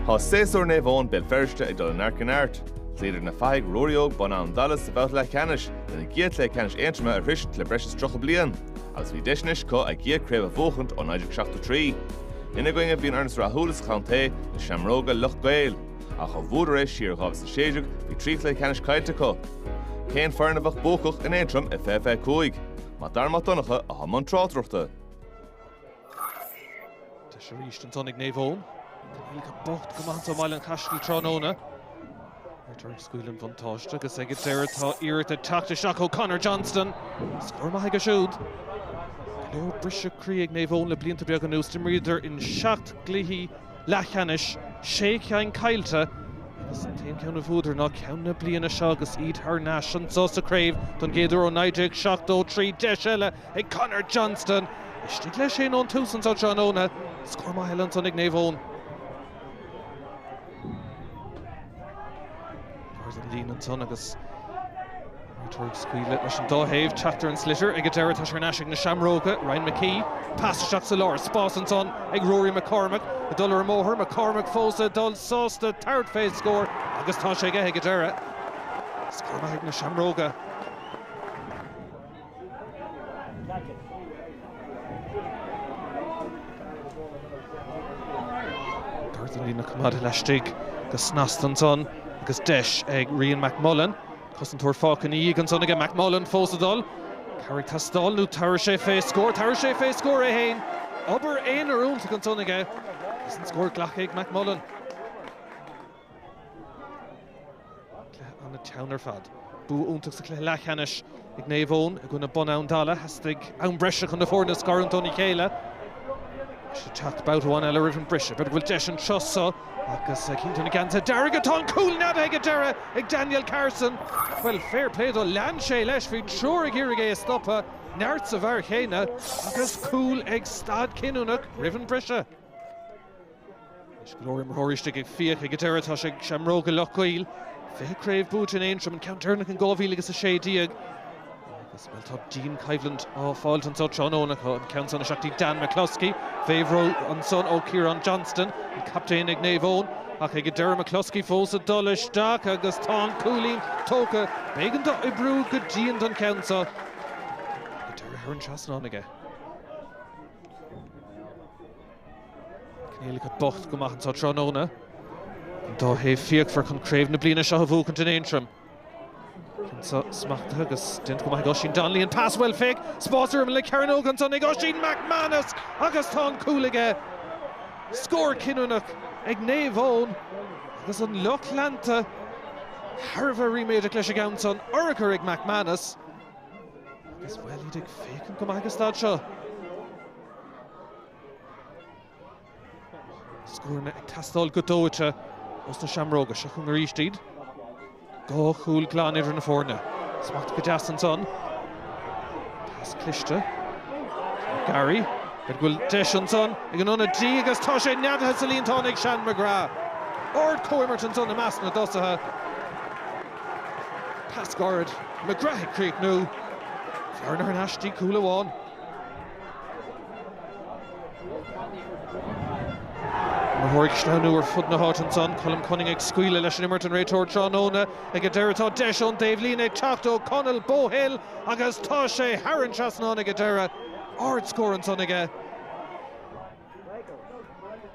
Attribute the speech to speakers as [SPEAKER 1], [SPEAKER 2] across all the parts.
[SPEAKER 1] Tá séasúr Naomh Eoin Béal Feirste ag dul ó neart go neart. Chloíodar na fathaigh Ruairí Óg Bun Abhann Dalla sa bhabhta leathcheannais lena gcéad chluiche ceannais Aontroma a shroisint le breis is tríocha bliain agus bhí deis anois acu a gcéad chraobh a bhuachaint ó 1973. Ina gcoinne bhí an fhoireann is rathúla sa chontae, na Seamróga, Loch gCaol. Ach ó bhuadar é siar i 2016 bhí trí chluiche ceannais caillte acu. Cén foireann a bheadh buacach in Aontroim i 2025? Mac Dara Mac Donncha, atá i mbun tráchtaireachta. Deis arís ansan ag Naomh Eoin. Níl go bocht go maith anseo i mBaile an Chaistil tráthnóna. Réiteoir ag scaoileadh an bhuntáiste agus ag an deireadh tá iarracht ag teacht isteach ó Conor Johnston. Scór maith aige siúd. Go leor briseadh croí ag Naomh Eoin le blianta beaga anuas. D'imríodar in seacht gcluichí leathcheannais, sé ceann caillte agus an t-aon cheann a bhuadar ná ceann na bliana seo agus iad thar n-ais anseo sa chraobh don gcéad uair ó 1973. Deis eile ag Conor Johnston. Istigh leis féin ón tús anso tráthnóna. Scór maith eile ansan ag Naomh Eoin. Táid an líne ansan agus Muircheartaigh ag scaoileadh leis an dá thaobh. Teacht ar an sliotar ag an deireadh. Tá sé thar n-ais ag na Seamróga, Ryan McKee. Pas isteach sa lár. Spás ansan ag Rory McCormick ag dul ar ruathar. McCormick fós ag dul. Sásta tabhairt fé scór agus tá sé aige ag an deireadh. Scór maith ag na Seamróga. Gar don líne ach coimeádta laistigh go snasta ansan agus deis ag Rian McMullan. Cosantóir fágtha ina dhiaidh ansan aige, McMullan fós ag dul. Cabhair ag teastáil nó tabharfaidh sé fé scór, tabharfaidh sé fé scór é fhéin. Obair aonair iontach ansan aige agus an scór glactha ag McMullan. Cluiche an-teann ar fad. Bua iontach sa chluiche leathcheannais ag Naomh Eoin i gcoinne Bun Abhann Dalla. Theastaigh am breise chun na foirne a scarúint óna chéile. Tá siad ag teacht babhta amháin eile roimh an briseadh. B'fhéidir go bhfuil deis anseo seo agus cinnte ag na geansaithe dearga. Tá an cúl neadaithe ag an deireadh ag Daniel Carson. Bhuel, fair play dó. Lean sé leis. Bhí triúr ag iarraidh é a stopadh. Neart sa bhfear chéanna. Agus cúl ag staid cinniúnach roimh an briseadh. Anois go leor imreoirí istigh ag fiach ag an deireadh, tá sé ag Seamróga Loch gCaol. Fiche craobh buaite in Aontroim, an ceann deireanach in 2016 agus, bhuel, tá dianchoimhlint á fáil anseo tráthnóna. Tá an ceann san ag teacht, Dan McCloskey, fé bhrú anseo ó Ciarán Johnston, an captaen ag Naomh Eoin, ach ag an deireadh McCloskey fós ag dul isteach agus tá an cúilín tógtha. B'éigean dó oibriú go dian don cheann seo. Ag an deireadh thar an trasnán aige. Coinníollacha bocht go maith anseo tráthnóna. An dá thaobh fíochmhar chun craobh na bliana seo a bhuachaint in Aontroim. Smachtaithe agus déanta go maith ag Oisín Donnelly. An pas bhuail Fick. Spás uair amhain le Cearnóg. Ansan ag Oisín McManus agus tá an cúl aige. Scór cinniúnach ag Naomh Eoin agus an lucht leanta thar a bheith ríméadach leis an gceann san. Urchar ag McManus agus, bhuel, iad ag féachaint go maith ag an staid seo. Scóranna ag teastáil go dóite ó na Seamróga. Seo chugainn arís iad. Dhá chúl glan idir na foirne. Smacht go deas ansan. Pas cliste. Gairid. Go bhfuil deis ansan ag an ionadaí agus tá sé neadaithe sa líontán ag Sean McGrath. Ard-chomhimirt ansan i measc na dtosaithe. Pas gairid. McGrath ag críochnú. Bearna ar ais go dtí cúl amháin. Imreoirí ag sleamhnú ar fud na háibhéite ansan. Colm Cunning ag scaoileadh leis an imirt, an réiteoir tráthnóna ag an deireadh. Tá deis ón dtaobhlíne ag teacht ó Conall Bohill agus tá sé thar an trasnán ag an deireadh. Ard-scór ansan aige.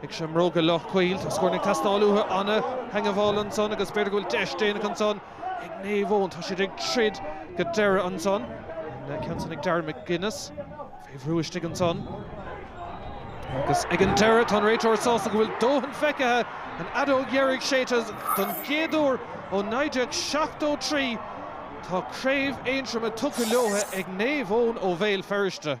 [SPEAKER 1] Ag Seamróga Loch gCaol, tá scór ag teastáil uathu, ana-theagmháil ansan agus b'fhéidir go bhfuil deis déanach ansan ag Naomh Eoin. Tá siad ag troid go deireadh ansan. An ceann san ag Darren McGuinness fé bhrú istigh ansan. Agus ag an deireadh, tá an réiteoir sásta go bhfuil dóthain feicthe, an fheadóg dheiridh séidte don gcéad uair ó 1973. Tá craobh Aontroma tugtha leotha ag Naomh Eoin ó Bhéal Feirste.